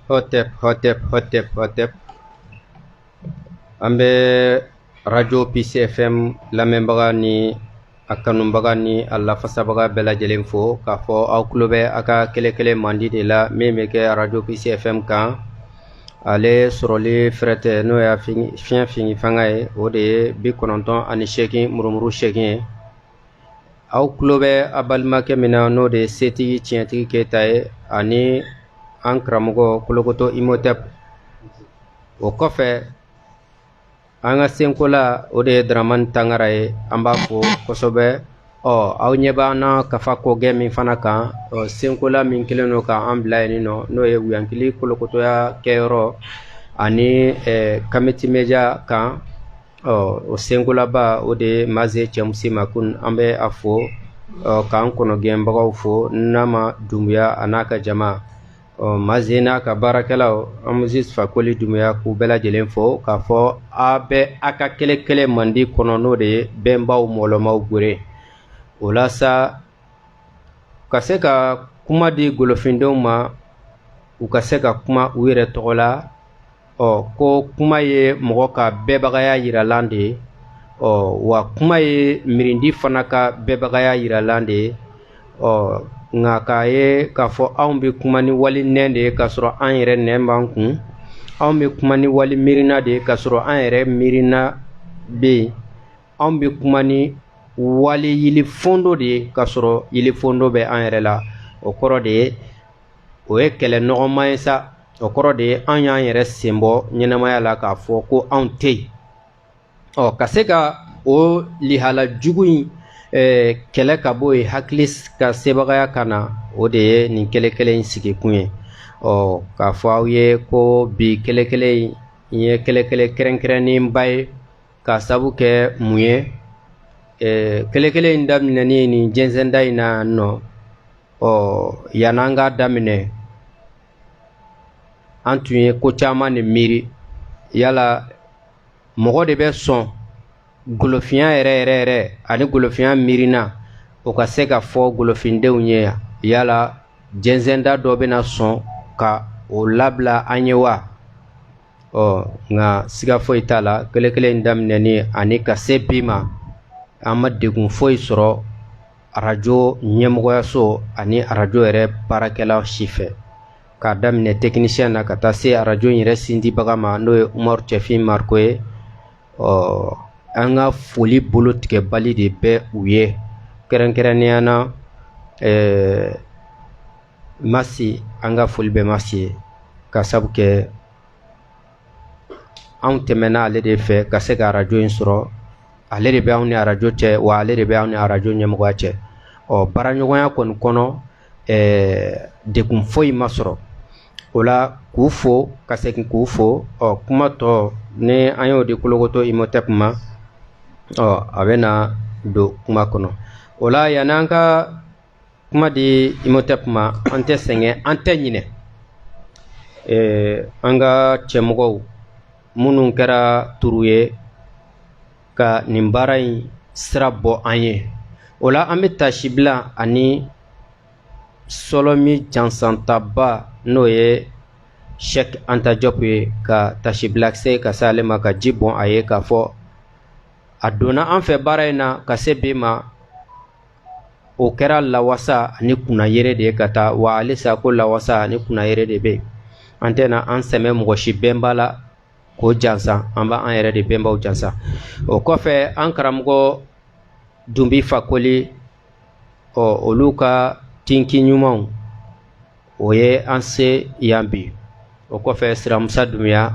hotep hotep hotep hotep an bɛ radio pcfm lamɛnbaga ni a kanubaga ni a lafasabaga bɛɛ lajɛlen fo k'a fɔ aw tulo bɛ a ka kelenkele mandi de la min bɛ kɛ radio pcfm kan ale sɔrɔli fɛrɛ tɛ n'o y'a fiɲɛ fini fanga ye o de ye bi kɔnɔntɔn ani seegin murumuru seegin ye aw tulo bɛ a balimakɛ min na n'o de ye setigi tiɲɛtigi keyita ye ani an karamɔgɔ kolokoto imotep o kɔfɛ an ka senkola o de ye daramani tangara ye an b'a fo kosɛbɛ ɔ aw ɲɛ b'an na kafa kogɛ min fana kan ɔ senkola min kelen don k'an bila yen nɔ n'o ye wuyankili kolokotoya kɛyɔrɔ ani kamiti media kan ɔ o senkolaba o de ye maze cɛmusi makun an bɛ a fo k'an kɔnɔgɛnbagaw fo nama dunbuya a n'a ka jama ɔ maze n'a ka baarakɛlaw amusis fakoli dunbuya k'u bɛɛ lajɛlen fo k'a fɔ a bɛ a ka kelenkele mandi kɔnɔ n'o de ye bɛnbaw mɔlɔmaw gwere o la sa ka se ka kuma di golofindenw ma u ka se ka kuma u yɛrɛ tɔgɔ la ɔ ko kuma ye mɔgɔ ka bɛɛbagaya yiralan de ye ɔ wa kuma ye miirindi fana ka bɛɛbagaya yiralan de ye ɔ nka k'a ye k'a fɔ anw bɛ kuma ni wali nɛn de ye k'a sɔrɔ an yɛrɛ nɛn b'an kun anw bɛ kuma ni wali miirina de ye k'a sɔrɔ an yɛrɛ miirina bɛ yen anw bɛ kuma ni wali yilifondo de ye k'a sɔrɔ yilifondo bɛ an yɛrɛ la o kɔrɔ de ye o ye kɛlɛ nɔgɔma ye sa o kɔrɔ de ye an y'an yɛrɛ sen bɔ ɲɛnamaya la k'a fɔ ko anw tɛ yen ɔ ka se ka o lihala jugu in eh, kɛlɛ ka bɔ yen hakili ka sebagaya ka na o de ye nin kelenkele in sigikun ye ɔ k'a fɔ aw ye ko bi kelenkele in n ye kelenkele kɛrɛnkɛrɛnnenba ye k'a sabu kɛ mun ye eh, kelenkele in daminɛni nin jɛnsɛnda in na nɔ ɔ yan'an k'a daminɛ an tun ye ko caman de miiri yala mɔgɔ de bɛ sɔn golofiya yɛrɛ yɛrɛ yɛrɛ ani golofiya miirina o ka se ka fɔ golofindenw ye yan yala jɛnsɛnda dɔ bɛna sɔn ka o labila an ye wa ɔ nka siga foyi t'a la kelenkele in daminɛni ani ka se bi ma an ma degun foyi sɔrɔ arajo ɲɛmɔgɔyaso ani arajo yɛrɛ baarakɛla si fɛ k'a daminɛ tɛkinisiyɛn na ka taa se arajo in yɛrɛ sindibaga ma n'o ye umaru cɛfin mariko ye ɔ an ka foli bolo tigɛbali de bɛ u ye kɛrɛnkɛrɛnnenya na ɛɛ masi an ka foli bɛ masi ye ka sabu kɛ anw tɛmɛna ale de fɛ ka se ka arajo in sɔrɔ ale de bɛ anw ni arajo cɛ wa ale de bɛ anw ni arajo ɲɛmɔgɔya cɛ ɔ baaraɲɔgɔnya kɔni kɔnɔ ɛɛ degun foyi ma sɔrɔ o la k'u fo ka segin k'u fo ɔ kuma tɔ ni an y'o di kolokoto imotep ma ɔ a bɛ na don kuma kɔnɔ o la yan'an ka kuma di imotep ma an tɛ sɛgɛn an tɛ ɲinɛ an ka cɛmɔgɔw minnu kɛra turu ye ka nin baara in sira bɔ an ye o la an bɛ tasibila ani sɔlɔmi jansantaba n'o ye sɛk anta jɔp ye ka tasibila se ka se ale ma ka ji bɔn a ye k'a fɔ a donna an fɛ baara in na ka se bi ma o kɛra lawasa ani kunnayere de ye ka taa wa halisa ko lawasa ani kunnayere de bɛ an tɛna an sɛmɛ mɔgɔ si bɛnba la k'o jansa an b'an yɛrɛ de bɛnbaw jansa o kɔfɛ an karamɔgɔ dunbi fakoli ɔ olu ka tinki ɲumanw o ye an se yan bi o kɔfɛ siramusa dunbiya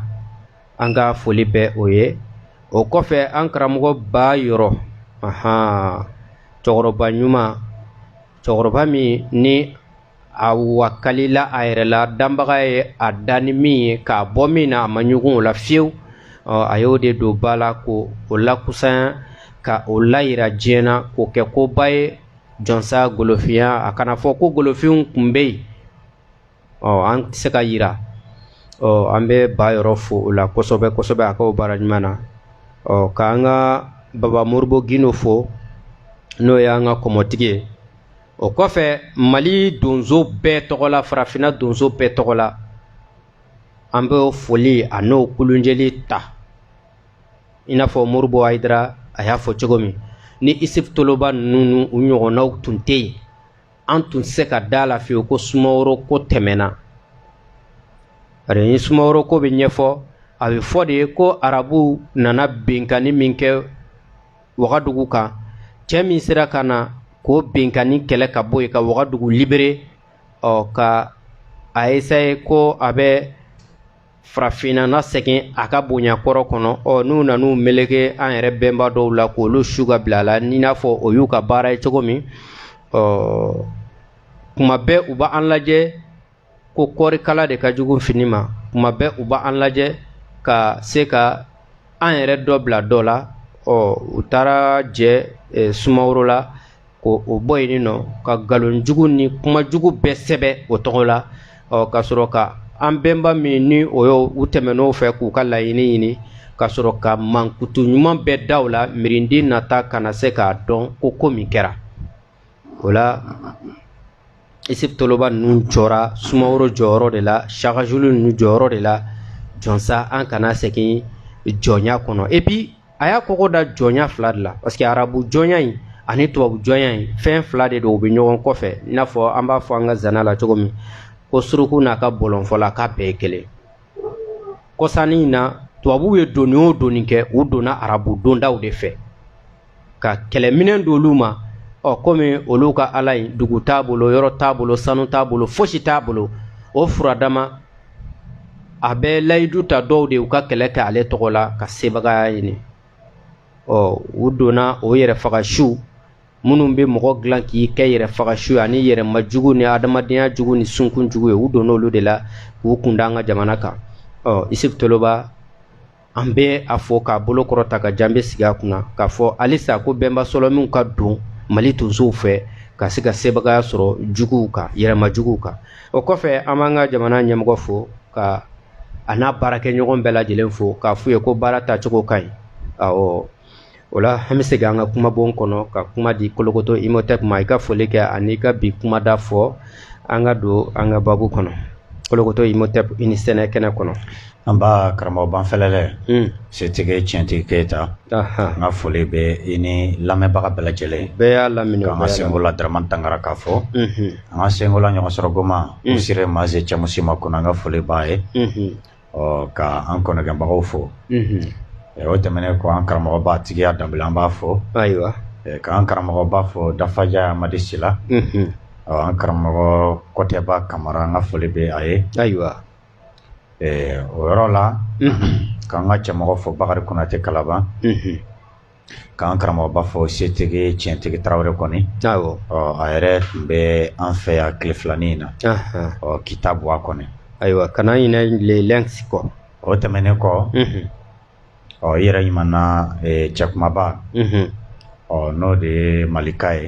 an ka foli bɛ o ye o kɔfɛ an karamɔgɔ ba yɔrɔ ahan cɛkɔrɔba ɲuman cɛkɔrɔba min ni a wakalila a yɛrɛ la danbaga ye a dan ni min ye k'a bɔ min na a ma ɲugun o la fiyewu a y'o de don ba la ko o lakusanya ka o layira diɲɛ na k'o kɛ koba ye jɔnsa golofinya a kana fɔ ko golofinw tun bɛ yen ɔ an tɛ se k'a yira ɔ an bɛ ba yɔrɔ fo o la kosɛbɛ kosɛbɛ a k'o baara ɲuman na ɔ k'an ka baba moribo gindo fo n'o y'an ka kɔmɔtigi ye o kɔfɛ mali donso bɛɛ tɔgɔ la farafinna donso bɛɛ tɔgɔ la an bɛ foli an'o kulonjɛli ta i n'a fɔ moribo hayidara a y'a fɔ cogo min ni isuf toloba ninnu u ɲɔgɔnnaw tun tɛ yen an tun se ka da la fiyewu ko sumaworo ko tɛmɛna bari ni sumaworo ko bɛ ɲɛfɔ a bɛ fɔ de ye ko arabuw nana benkanni min kɛ wagadugu kan cɛ min sera ka na k'o benkanni kɛlɛ ka bɔ yen ka wagadugu libere ɔ ka a esaye ko a bɛ farafinna nasegin a ka bonya kɔrɔ kɔnɔ ɔ n'u nan'u meleke an yɛrɛ bɛnba dɔw la k'olu su ka bila a la n'i n'a fɔ o y'u ka baara ye cogo min ɔ kuma bɛɛ u b'an lajɛ ko kɔɔrikala de ka jugu fini ma kuma bɛɛ u b'an lajɛ ka se ka an yɛrɛ dɔ bila dɔ la ɔ u taara jɛ e, sumaworo la ko o bɔ yen nɔ ka nkalonjugu ni kumajugu bɛɛ sɛbɛn o tɔgɔ la ɔ ka sɔrɔ ka an bɛnba min ni o y'u tɛmɛn'o fɛ k'u ka laɲini ɲini ka sɔrɔ ka mankutu ɲuman bɛɛ da u la miiridi nata kana se k'a dɔn ko ko min kɛra o la isufu toloba ninnu jɔra sumaworo jɔyɔrɔ de la shaka zulu ninnu jɔyɔrɔ de la jɔnsa an kana segin jɔnya kɔnɔ epi a y'a kɔgɔ da jɔnya fila de la parce que arabu jɔnya in ani tubabu jɔnya in fɛn fila de don u bɛ ɲɔgɔn kɔfɛ i n'a fɔ an b'a fɔ an ka zana la cogo min ko suruku n'a ka bɔlɔnfɔla k'a bɛɛ ye kelen kɔsa nin na tubabuw ye donni o donni kɛ u donna arabu dondaw de fɛ ka kɛlɛminɛn d'olu ma ɔ komi olu ka ala in dugu t'a bolo yɔrɔ t'a bolo sanu t'a bolo fosi t'a bolo o furadama a bɛ layidu ta dɔw de u ka kɛlɛ kɛ ale tɔgɔ la ka sebagaya ɲini ɔ u donna o yɛrɛfagasu minnu bɛ mɔgɔ dilan k'i kɛ yɛrɛfagasu ani yɛrɛmajugu ni adamadenya jugu ni sunkun jugu ye u donna olu de la k'u kun da an ka jamana kan ɔ isufu toloba an bɛ a fɔ k'a bolo kɔrɔta ka jan bɛ sigi a kunna k'a fɔ halisa ko bɛnba sɔlɔminw ka don mali tonsow fɛ ka se ka sebagaya sɔrɔ juguw kan yɛrɛmajuguw kan o kɔfɛ an b'an ka jamana ɲɛmɔgɔ fo ka a n'a baarakɛɲɔgɔn bɛɛ lajɛlen fo k'a f'u ye ko baara tacogo ka ɲi o la an bɛ segin an ka kumabon kɔnɔ ka kuma di kolokoto imotɛp ma i ka foli kɛ ani ka bi kumada fɔ an ka don an ka babu kɔnɔ kolokoto imotɛp i ni sɛnɛ kɛnɛ kɔnɔ nba karamɔgɔ banfɛlɛlɛ hmm. setigi tiɲɛtigi keyita an ka foli bɛ i ni lamɛnbaga bɛɛ lajɛlen bɛɛ y'a lamini an ka senkola daramani tangara k'a fo hmm. an ka senkola ɲɔgɔn sɔrɔ goma hmm. usire maze cɛmusima kɔnɔ an ka foli b'a ye ɔ ka an kɔnɔgɛnbagaw fo o tɛmɛnen kɔ an karamɔgɔba tigiya danbɛlɛ an b'a fo ayiwa k'an karamɔgɔba fo dafaja amadi sila ɔ an karamɔgɔ kɔtɛba kamara an ka foli bɛ a ye ayiwa o yɔrɔ la k'an ka cɛmɔgɔ fo bakari kɔnatɛ kalaban K'an karamɔgɔba fo setigi tiɲɛtigi tarawele kɔni a yɛrɛ tun bɛ an fɛ yan tile filanin in na kita buwa kɔni ayiwa kana ɲinɛ kɔ o tɛmɛnen kɔ ɔ i yɛrɛ ɲumanna cɛkumaba ɔ n'o de ye malika ye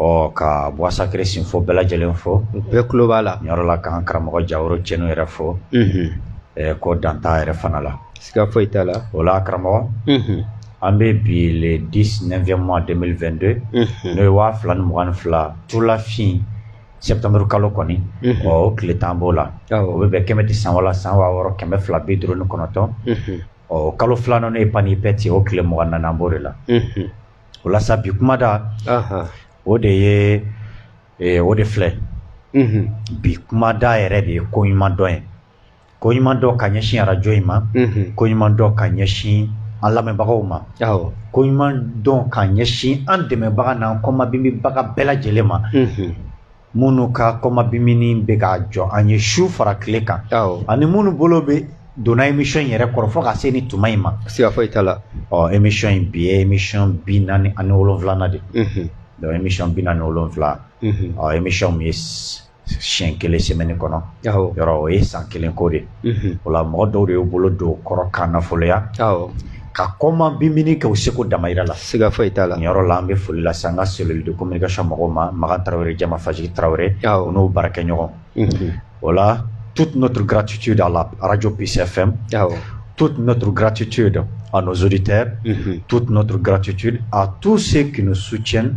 Ɔ ka Bois Sacré sin fo bɛɛ lajɛlen fo u bɛɛ tulo b'a la yɔrɔ la ka an karamɔgɔ jaro cɛnu yɛrɛ fo ko dantan yɛrɛ fana la siga foyi t'a la o la karamɔgɔ an bɛ bi le dix neuvième mois 2022 n'o ye waa fila ni mugan ni fila tulafin septembre kalo kɔni ɔ tile tan b'o la o bɛ bɛn kɛmɛti san san waa wɔɔrɔ kɛmɛ fila bi duuru ni kɔnɔntɔn ɔ kalo filanan n'o ye panipɛti o tile mugan ni naani an b'o de la o la sa bi kumada o de ye o de filɛ bi kumada yɛrɛ de ye ko ɲuman dɔn ye ko ɲuman dɔn ka ɲɛsin arajo in ma ko ɲuman dɔn ka ɲɛsin an lamɛnbagaw ma ko ɲuman dɔn ka ɲɛsin an dɛmɛbaga n'an kɔmabinbinbaga bɛɛ lajɛlen ma minnu ka kɔmabinbinni bɛ ka jɔ an ye su fara tile kan ani minnu bolo bɛ donna émission in yɛrɛ kɔrɔ fo ka se ni tuma in ma siga foyi t'a la ɔ émission in bi ye émission bi naani ani wolonwulanan de donc émission bi naani ni wolonwula émission min ye siɲɛ kelen semaine kɔnɔ yɔrɔ o ye san kelen ko de o la mɔgɔ dɔw de y'u bolo don kɔrɔ k'an nafoloya k'an kɔmabinbinni kɛ u seko damayira la siga foyi t'a la yɔrɔ la an bɛ foli lase an ka cellule de communication mɔgɔw ma makan tarawele jama faji tarawele u n'u baarakɛɲɔgɔn voilà toute notre gratitude à la radio PCFM toute notre gratitude à nos auditeurs toute notre gratitude à tous ceux qui nous soutiennent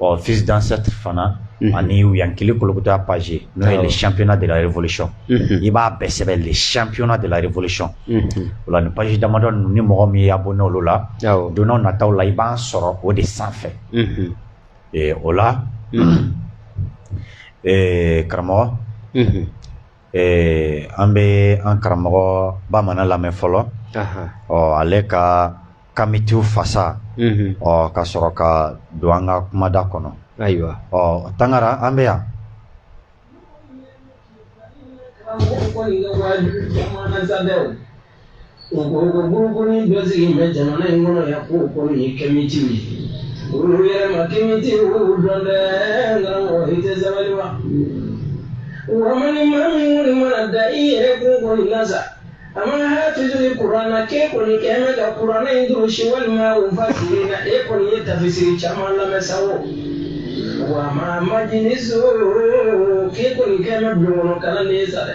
Ɔ fils d'ancêtre fana ani yankili kolokuta page n'o ye les championnats de la révolution i b'a bɛɛ sɛbɛn le siyɛnpyna delareolisi o la nin page damadɔ ninnu ni mɔgɔ min y'i abonner olu la don nataw la i b'a sɔrɔ o de sanfɛ o la karamɔgɔ Ee an bɛ an karamɔgɔ bamanan lamɛn fɔlɔ ɔ ale ka kamitiw fasa ɔ ka sɔrɔ ka don an ka kumada kɔnɔ ayiwa ɔ tangara an bɛ yan O ko ko bolokoli bɛ sigilen bɛ jamana in kɔnɔ yan ko ko ye kɛmɛti ye olu yɛrɛ ma kɛmɛti olu dɔn dɛ n karamɔgɔ i tɛ sabali wa wa maa min kɔni mana da i yɛrɛ ko kɔni na sa a mana hafizu kuranɛ k'e kɔni kɛ bɛ ka kuranɛ in durusi walima o fasiri na e kɔni ye tafisiri caman lamɛn sa o wa ma ma ni so k'e kɔni kɛ bɛ bulon kɔnɔ kalanden ye sa dɛ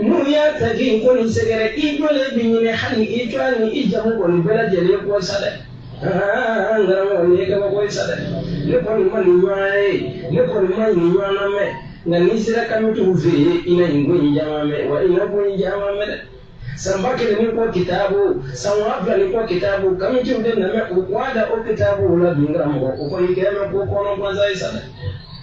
N'u y'a ta i ko sɛgɛrɛ i ko bɛ ɲinɛ hali i tɔgɔ ni i jamu kɔni bɛɛ lajɛlen kɔ sa dɛ aa n karamɔgɔ nin ye kabako ye sa dɛ ne kɔni ma nin ɲɔgɔn ye ne kɔni ma nin ɲɔgɔn mɛn nka n'i sera kamitiw fɛ yen i na nin ko in caman mɛn wa i na ko in caman mɛn dɛ san ba kelen ni kɔ kitabu san waa fila ni kɔ kitabu kamitiw de nana u k'a da o kitabu la dun karamɔgɔ o kɔni kɛlen bɛ ko kɔnɔ gansan ye sa dɛ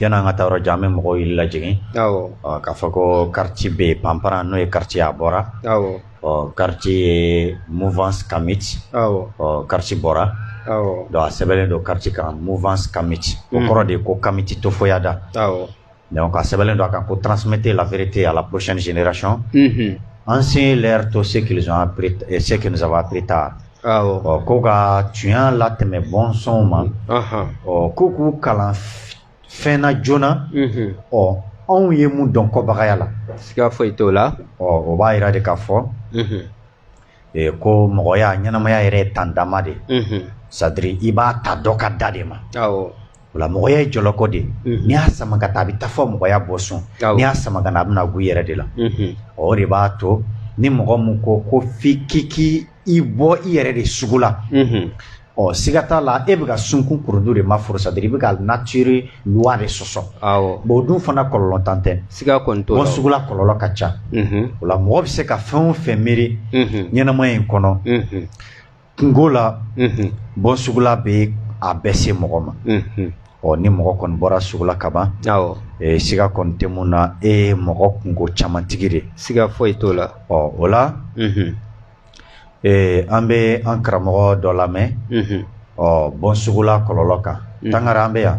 Yan an ka taa jan bɛ mɔgɔw y'i lajɛ k'a fɔ ko kariti bɛ yen panpra n'o ye kariti a bɔra kariti ye mufan ka mi kariti bɔra don a sɛbɛnbɛnlen don kariti ka mufan ka mi o kɔrɔ de ye ko kamiti to fɔya da ka sɛbɛnbɛnlen don a kan ko trantimɛte lafiurrete a lacsiyɛnsin niray an sen to se saba pere ta ko ka tiɲɛ latɛmɛ bɔnsɔnw ma ko k'u kalan fɛn na joona ɔ anw ye mun dɔn kɔbagaya la siga foyi t'o la ɔ o b'a yira de k'a fɔ ko mɔgɔya ɲɛnamaya yɛrɛ ye tan dama de sadiri i b'a ta dɔ ka da de ma o la mɔgɔya ye jɔlɔkɔ de n'i y'a sama ka taa a bɛ taa fɔ mɔgɔya bɔsun n'i y'a sama ka na a bɛ na gu i yɛrɛ de la o de b'a to ni mɔgɔ min ko ko f'i k'i k'i i bɔ i yɛrɛ de sugu la ɔ siga t'a la e bɛ ka sunkun kurudu de ma foro sadiri i bɛ ka nature loi de sɔsɔ awɔ bon o dun fana kɔlɔlɔ dan tɛ siga kɔni t'o la bɔnsugula kɔlɔlɔ ka ca o la mɔgɔ bɛ se ka fɛn o fɛn miiri ɲɛnamaya in kɔnɔ kunko la bɔnsugula bɛ a bɛɛ se mɔgɔ ma Ɔ ni mɔgɔ kɔni bɔra sugu la kaban siga kɔni tɛ mun na e ye mɔgɔ kunko camantigi de siga foyi t'o la ɔ o la an bɛ an karamɔgɔ dɔ lamɛn ɔ bɔnsugula kɔlɔlɔ kan tangara an bɛ yan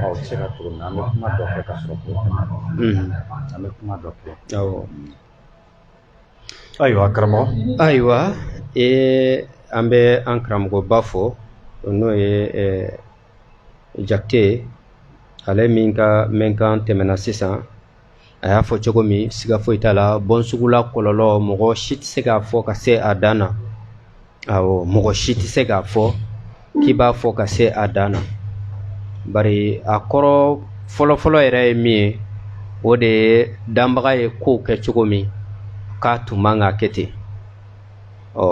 Aw se ka cogo min na an bɛ kuma dɔ kɛ ka sɔrɔ an bɛ kuma dɔ kɛ Ayiwa karamɔgɔ ayiwa e an bɛ an karamɔgɔba fo n'o ye jakite ale min ka mɛnkan tɛmɛna sisan a y'a fɔ cogo min siga foyi t'a la bɔnsugula kɔlɔlɔ mɔgɔ si tɛ se k'a fɔ ka se a dan na awɔ mɔgɔ si tɛ se k'a fɔ k'i b'a fɔ ka se a dan na bari a kɔrɔ fɔlɔfɔlɔ yɛrɛ ye min ye o de ye danbaga ye kow kɛ cogo min k'a tun man ka kɛ ten ɔ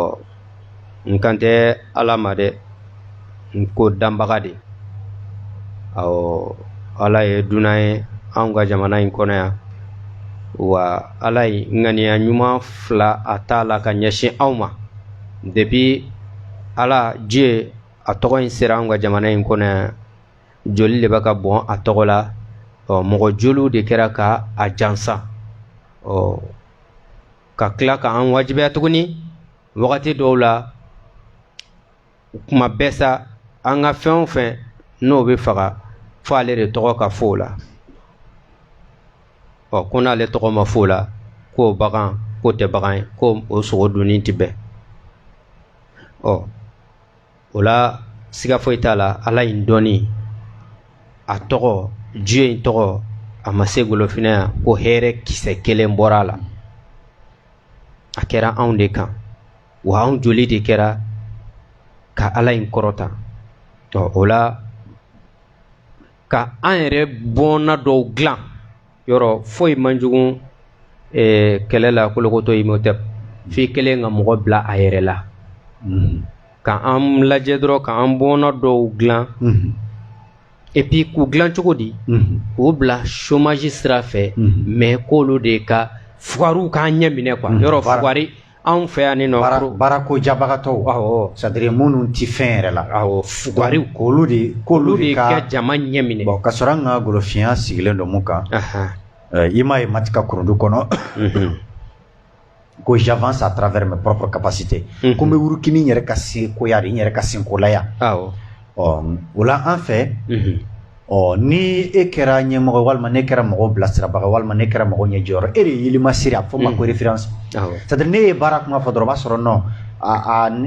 n kan tɛ ala ma dɛ n ko danbaga de ɔɔ ala ye dunan ye anw ka jamana in kɔnɔ yan wa ala ye ŋaniya ɲuman fila a t'a la ka ɲɛsin anw ma depuis ala dieu a tɔgɔ in sera anw ka jamana in kɔnɔ yan joli de bɛ ka bɔn a tɔgɔ la ɔ mɔgɔ joliw de kɛra ka a jansa ɔ ka tila ka an wajibiya tuguni wagati dɔw la o kuma bɛɛ sa an ka fɛn o fɛn n'o bɛ faga fɔ ale de tɔgɔ ka fɔ o la ɔ ko n'ale tɔgɔ ma fɔ o la k'o bagan k'o tɛ bagan ye ko o sogo dunni tɛ bɛn ɔ o la siga foyi t'a la ala in dɔnni a tɔgɔ dieu in tɔgɔ a ma se golofinɛ yan ko hɛrɛ kisɛ kelen bɔra a la a kɛra anw de kan wa anw joli de kɛra ka ala in kɔrɔta ɔ o la ka an yɛrɛ bɔnna dɔw dilan yɔrɔ foyi man jugu eh, kɛlɛ la kolokoto imhotep f'i kelen ka mɔgɔ bila a yɛrɛ la mm-hmm. ka an lajɛ dɔrɔn ka an bɔnna dɔw dilan mm-hmm. et puis k'u dilan cogo di mm-hmm. k'u bila chômage sira fɛ mais k'olu de ka fugariw k'an ɲɛ minɛ quoi yɔrɔ fugari Anw fɛ yan ni nɔ baarako jabagatɔw c'est-à-dire minnu tɛ fɛn yɛrɛ la fugariw olu de olu de ka jama ɲɛ minɛ ka sɔrɔ an ka golofiya sigilen don mun kan i m'a ye matika kurundu kɔnɔ ko j'avance à travers mes propres capacités ko n bɛ wuruki ni n yɛrɛ ka sekoya de n yɛrɛ ka senkolaya ɔ o la an fɛ ɔ ni e kɛra ɲɛmɔgɔ walima n'e kɛra mɔgɔ bilasirabaga walima n'e kɛra mɔgɔ ɲɛjɔyɔrɔ e de ye yelima siri a fɔ ma ko référence c'est-à-dire n'e ye baara kuma fɔ dɔrɔn o b'a sɔrɔ non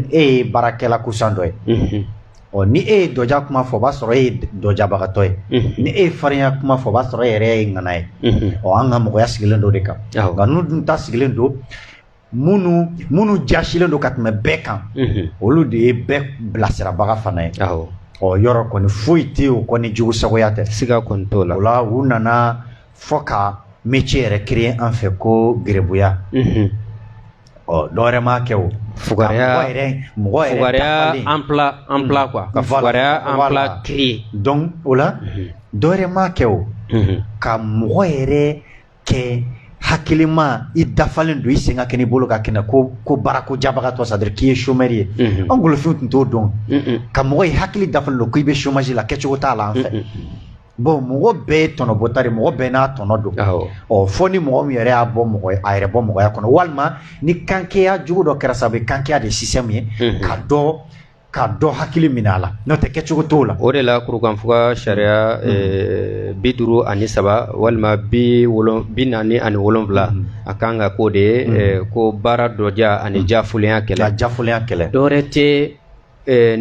e ye baarakɛla kusan dɔ ye ɔ ni e ye dɔja kuma fɔ o b'a sɔrɔ e ye dɔjabagatɔ ye ni e ye farinya kuma fɔ o b'a sɔrɔ e yɛrɛ ye ŋana ye ɔ an ka mɔgɔya sigilen don o de kan nka n'u dun ta sigilen don minnu minnu jasilen don ka tɛmɛ bɛɛ kan olu de ye bɛɛ bilasirabaga fana ye ɔ yɔrɔ kɔni foyi tɛ o kɔni jugu sagoya tɛ siga kɔni t'o la o la u nana fɔ ka métier yɛrɛ créer an fɛ ko garibuya ɔ dɔwɛrɛ m'a kɛ o fugariya emploi quoi ka fugariya emploi créer donc o la dɔwɛrɛ m'a kɛ o ka mɔgɔ yɛrɛ kɛ hakilima i dafalen don i sen ka kɛnɛ i bolo ka kɛnɛ ko ko baara ko jabagatɔ c'est-à-dire k'i ye chômeur ye mhm. an golofinw tun t'o dɔn ka mɔgɔ i hakili dafalen don k'i bɛ chômage la kɛcogo t'a la an fɛ bon mɔgɔ bɛɛ ye tɔnɔbɔta de mɔgɔ bɛɛ n'a tɔnɔ don ɔ fo ni mɔgɔ min yɛrɛ y'a bɔ mɔgɔ a yɛrɛ bɔ mɔgɔya kɔnɔ walima ni kankeya jugu dɔ kɛra sabu kankeya de système ye ka dɔ Ka dɔ hakili minɛ a la n'o tɛ kɛcogo t'o la o de la kurukanfuga sariya bi duuru ani saba walima bi bi naani ani wolonwula a kan ka k'o de ye ko baara dɔja ani jaafolenya kɛlɛ jafoya kɛlɛ dɔwɛrɛ tɛ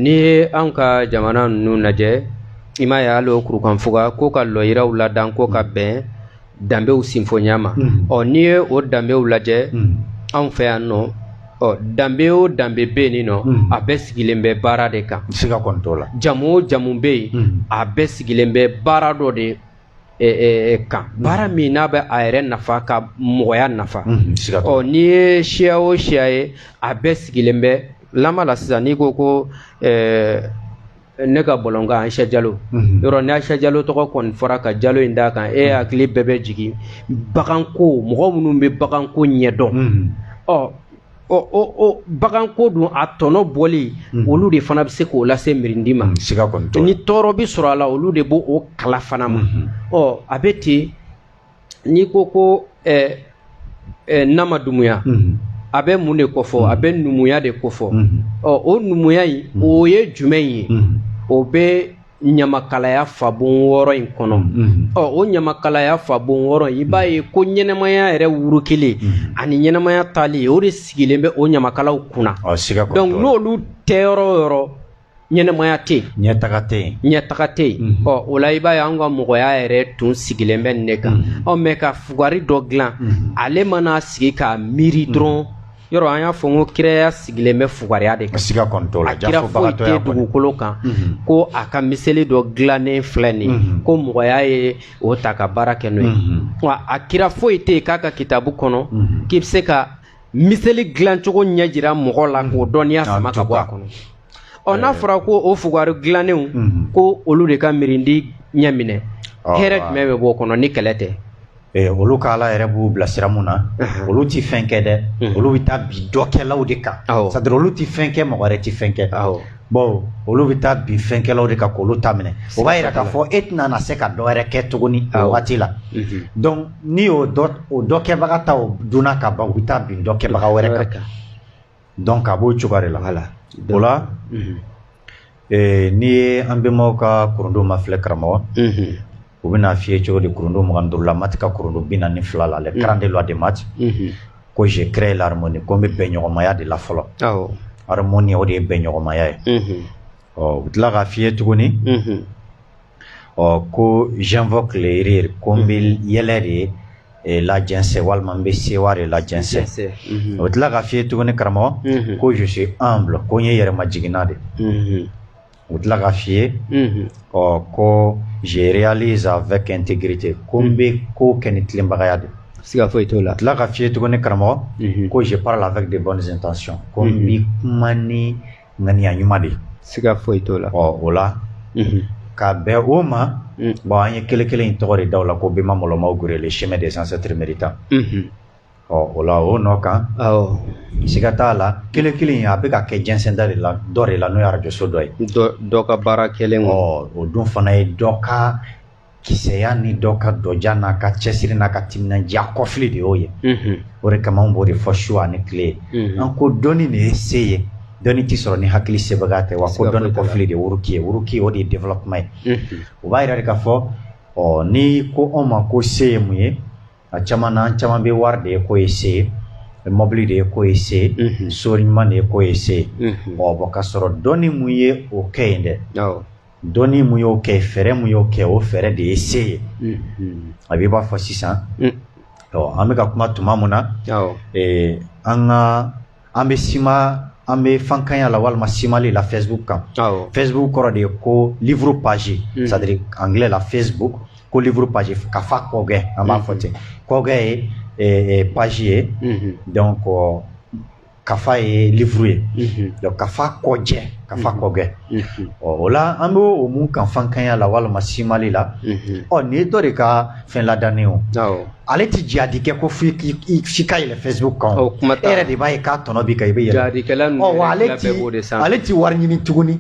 n'i ye an ka jamana ninnu lajɛ i m'a ye hali o kurukanfuga ko ka lɔyiraw ladan ko ka bɛn danbew sinfonya ma ɔ n'i ye o danbew lajɛ anw fɛ yan nɔ ɔ danbe o danbe bɛ yen nɔ a bɛɛ sigilen bɛ baara de kan siga kɔni t'o la jamu o jamu bɛ yen a bɛɛ sigilen bɛ baara dɔ de kan baara min n'a bɛ a yɛrɛ nafa ka mɔgɔya nafa ɔ n'i ye siya o siya ye a bɛɛ sigilen bɛ lama la sisan n'i ko ko ne ka bɔlɔnkan asa jalo yɔrɔ ni asa jalo tɔgɔ kɔni fɔra ka jalo in d'a kan e hakili bɛɛ bɛ jigin baganko mɔgɔ minnu bɛ baganko ɲɛdɔn ɔ ɔ baganko dun a tɔnɔ bɔli olu de fana bɛ se k'o lase mirindi ma ni tɔɔrɔ bɛ sɔrɔ a la olu de b'o kala fana ma ɔ a bɛ ten n'i ko ko nama dumuya a bɛ mun de kofɔ a bɛ numuya de kofɔ ɔ o numuya in o ye jumɛn ye o bɛ ɲamakalaya fabon wɔɔrɔ in kɔnɔ ɔ o ɲamakalaya fabon wɔɔrɔ in i b'a ye ko ɲɛnɛmaya yɛrɛ wuru kelen ani ɲɛnɛmaya taali o de sigilen bɛ o ɲamakalaw kunna donc n'olu tɛ yɔrɔ o yɔrɔ ɲɛnɛmaya tɛ yen ɲɛtaga tɛ yen ɲɛtaga tɛ yen mhm. ɔ o la i b'a ye an ka mɔgɔya yɛrɛ tun sigilen bɛ nin de kan mhm. ɔ mɛ ka fugari dɔ dilan mhm. ale mana sigi k'a miiri dɔrɔn yɔrɔ an y'a fɔ ko kiraya sigilen bɛ fugariya de kan siga kɔni t'o la kira foyi tɛ dugukolo kan mhm. ko a ka miseli dɔ dilannen filɛ nin mhm. ko mɔgɔya ye o ta ka baara kɛ n'o ye mhm. wa a kira foyi tɛ yen k'a ka kitabu kɔnɔ k'i bɛ se ka miseli dilancogo ɲɛ jira mɔgɔ la k'o dɔnniya sama ka bɔ a kɔnɔ ɔ n'a fɔra ko o fugari dilannenw ko olu de ka mirindi ɲɛminɛ hɛrɛ jumɛn bɛ b'o kɔnɔ ni kɛlɛ tɛ olu ka ala yɛrɛ b'u bila sira mun na olu tɛ fɛn kɛ dɛ olu bɛ taa bin dɔkɛlaw de kan c'est-à-dire olu tɛ fɛn kɛ mɔgɔ wɛrɛ tɛ fɛn kɛ bon olu bɛ taa bin fɛnkɛlaw de kan k'olu ta minɛ o b'a jira k'a fɔ e tɛna na se ka dɔwɛrɛ kɛ tuguni o waati la n'i y'o dɔ o dɔ kɛbaga ta o dunna ka ban u bɛ taa bin dɔ kɛbaga wɛrɛ kan kan donc a b'o cogoya de la voilà o la Mhm. eh, n'i ye an bɛnbaw ka kurundu mafilɛ karamɔgɔ Mhm. u bɛna f'i ye cogo di kurundu mugan ni duuru la Maât ka kurundu bi naani ni fila la les quarante-deux lois de Maât Mhm. ko je crée l'harmonie ko n bɛ bɛnɲɔgɔnmaya de la fɔlɔ awɔ harmonie o de ye bɛnɲɔgɔnmaya ye Mhm. ɔ u bɛ tila k'a f'i ye tuguni Mhm. ɔ ko j'invoque le rire ko n bɛ yɛlɛ de ye eh, lajɛnsɛn walima n bɛ sewa de lajɛnsɛn u tila k'a f'i ye tuguni karamɔgɔ ko je suis humble ko n ye yɛrɛmajiginna de u tila k'a f'i ye ɔ ko je réalise avec intégrité ko n bɛ ko kɛ ni tilenbagaya de siga foyi t'o la tila k'a f'i ye tuguni karamɔgɔ ko je parle avec de bonnes intentions ko n bɛ kuma ni ŋaniya ɲuman de siga foyi t'o la ɔ o la ka bɛn o ma bon an ye kelen kelen in tɔgɔ de da o la ko bɛnma mɔlɔmaw gure le chemin des ancêtres méritants ɔ o la o nɔ kan siga t'a la kelen kelen in a bɛ ka kɛ jɛnsɛnda de la dɔ de la n'o ye arajoso dɔ ye dɔ ka baara kɛlen o dun fana ye dɔ ka Kisɛya ni dɔ ka dɔja n'a ka cɛsiri n'a ka timinandiya kɔfili de y'o ye, unhun, o de kama an b'o de fɔ su ani tile, unhun, an ko dɔnni de ye se ye, dɔnni tɛ sɔrɔ ni hakili sebaga tɛ wa ko dɔnni kɔfili de ye wuruki ye wuruki o de ye développement ye, unhun, o b'a jira de k'a fɔ ɔ n'i ko anw ma ko se ye mun ye a caman na an caman bɛ wari de ye k'o ye se ye mɔbili de ye k'o ye se ye, unhun, so ɲuman de ye k'o ye se ye, unhun, ɔ bon k'a sɔrɔ dɔnni mun ye o kɛ yen dɛ, awɔ dɔnni mun y'o kɛ fɛɛrɛ mun y'o kɛ o fɛɛrɛ de ye se ye a b'i b'a fɔ sisan an bɛ ka kuma tuma mun na an ka an bɛ sima an bɛ fankanya la walima simali la facebook kan facebook kɔrɔ de ye ko livre page c'est à dire anglais la facebook ko livre page kafa kɔgɛ an b'a fɔ ten kɔgɛ ye page ye donc kafa ye livre ye donc kafa kɔjɛ kafa kɔgɛ ɔ o la an bɛ o mun kan fankanya la walima simali la ɔ nin ye dɔ de ka fɛn ladannen o ale tɛ jadi kɛ ko f'i f'i ka yɛlɛ facebook kan o kuma e yɛrɛ de b'a ye k'a tɔnɔ b'i kan i bɛ yɛlɛ jadikɛla ninnu ɔ ale ti ale ti wari ɲini tuguni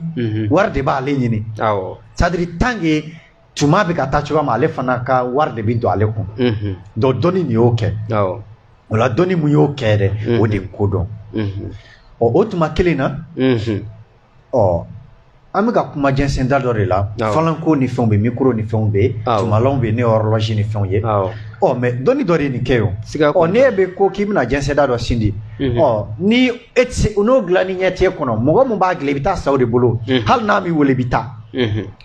wari de b'ale ɲini c'est à dire tant que tuma bɛ ka taa cogoya ma ale fana ka wari de bɛ don ale kun donc dɔnni nin y'o kɛ o la dɔnni mun y'o kɛ dɛ o de ko don ɔ o tuma kelen na ɔ an bɛ ka kuma jɛnsɛnda dɔ de la falanko ni fɛnw bɛ micro ni fɛnw bɛ tumalanw bɛ n'o ye horloge ni fɛnw ye ɔ mais dɔnni dɔ de nin kɛ o ɔ n'e bɛ ko k'i bɛna jɛnsɛnda dɔ sindi ɔ ni e tɛ se n'o dilanni ɲɛ t'e kɔnɔ mɔgɔ min b'a dilan i bɛ taa sa o de bolo hali n'a m'i wele i bɛ taa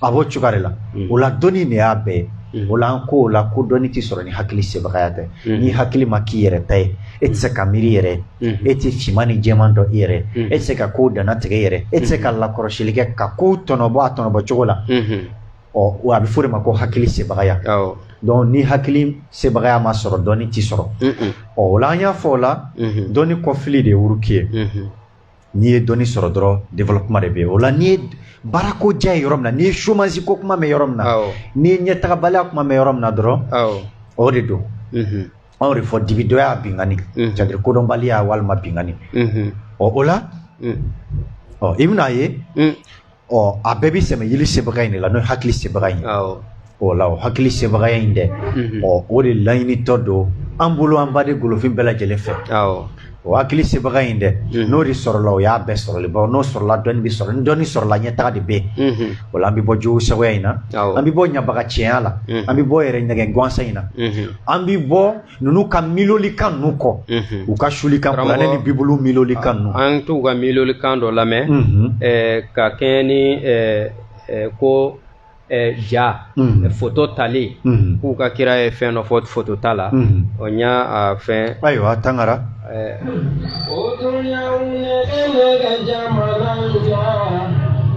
a b'o cogoya de la o la dɔnni de y'a bɛɛ ye o la an ko o la ko dɔnni tɛ sɔrɔ ni hakili sebagaya tɛ ni hakili ma k'i yɛrɛ ta ye e tɛ se ka miiri yɛrɛ e tɛ finman ni jɛman dɔn i yɛrɛ e tɛ se ka ko danna tigɛ yɛrɛ e tɛ se ka lakɔrɔsili kɛ ka ko tɔnɔbɔ a tɔnɔbɔ cogo la ɔ wa a bɛ fɔ de ma ko hakili sebagaya donc ni hakili sebagaya ma sɔrɔ dɔnni tɛ sɔrɔ ɔ o la an y'a fɔ o la dɔnni kɔfili de ye wuruki ye n'i ye dɔnni sɔrɔ dɔrɔn développement de bɛ yen o la n'i ye baarako diya ye yɔrɔ min na n'i ye chômage ko kuma mɛn yɔrɔ min na n'i ye ɲɛtagabaliya kuma mɛn yɔrɔ min na dɔrɔn o de don anw de fɔ dibidɔya binkanni c'est-à-dire kodɔnbaliya walima binkanni ɔ o la ɔ i bɛna ye Ɔ a bɛɛ bɛ sɛmɛ yili sebagaya in de la n'o ye hakili sebagaya in ye o la o hakili sebagaya in dɛ ɔ o de laɲinitɔ don an bolo an baden golofin bɛɛ lajɛlen fɛ o hakili sebagaya in dɛ n'o de sɔrɔla o y'a bɛɛ sɔrɔli bawo n'o sɔrɔla dɔnni bɛ sɔrɔ ni dɔnni sɔrɔla ɲɛtaga de bɛ yen o la an bɛ bɔ jugu sagoya in na an bɛ bɔ ɲabaga cɛya la an bɛ bɔ yɛrɛ nɛgɛn gansan in na an bɛ bɔ ninnu ka milolikan ninnu kɔ u ka sulikan kuranɛ ni bibulu milolikan ninnu an t'u ka milolikan dɔ lamɛn ka kɛɲɛ ni ko ja foto tali k'u ka kira ye fɛn dɔ fɔ foto ta la o n y'a fɛn ayiwa tangara o dɔnniyaw ne bɛ ne ka jamana ja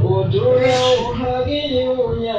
o dɔnniyaw hakiliw ɲɛ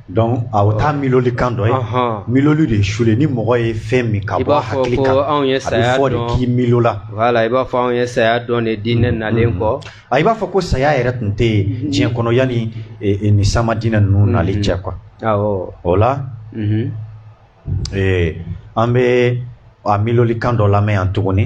Donc o t'a milolikan dɔ ye miloli de ye suli ni mɔgɔ ye fɛn min ka bɔ hakili kan a bɛ fɔ de k'i milola i b'a fɔ anw ye saya dɔn de diinɛ nalen kɔ a i b'a fɔ ko saya yɛrɛ tun tɛ yen diɲɛ kɔnɔ yanni nin sama diinɛ ninnu nali cɛ quoi o la an bɛ a milolikan dɔ lamɛn yan tuguni.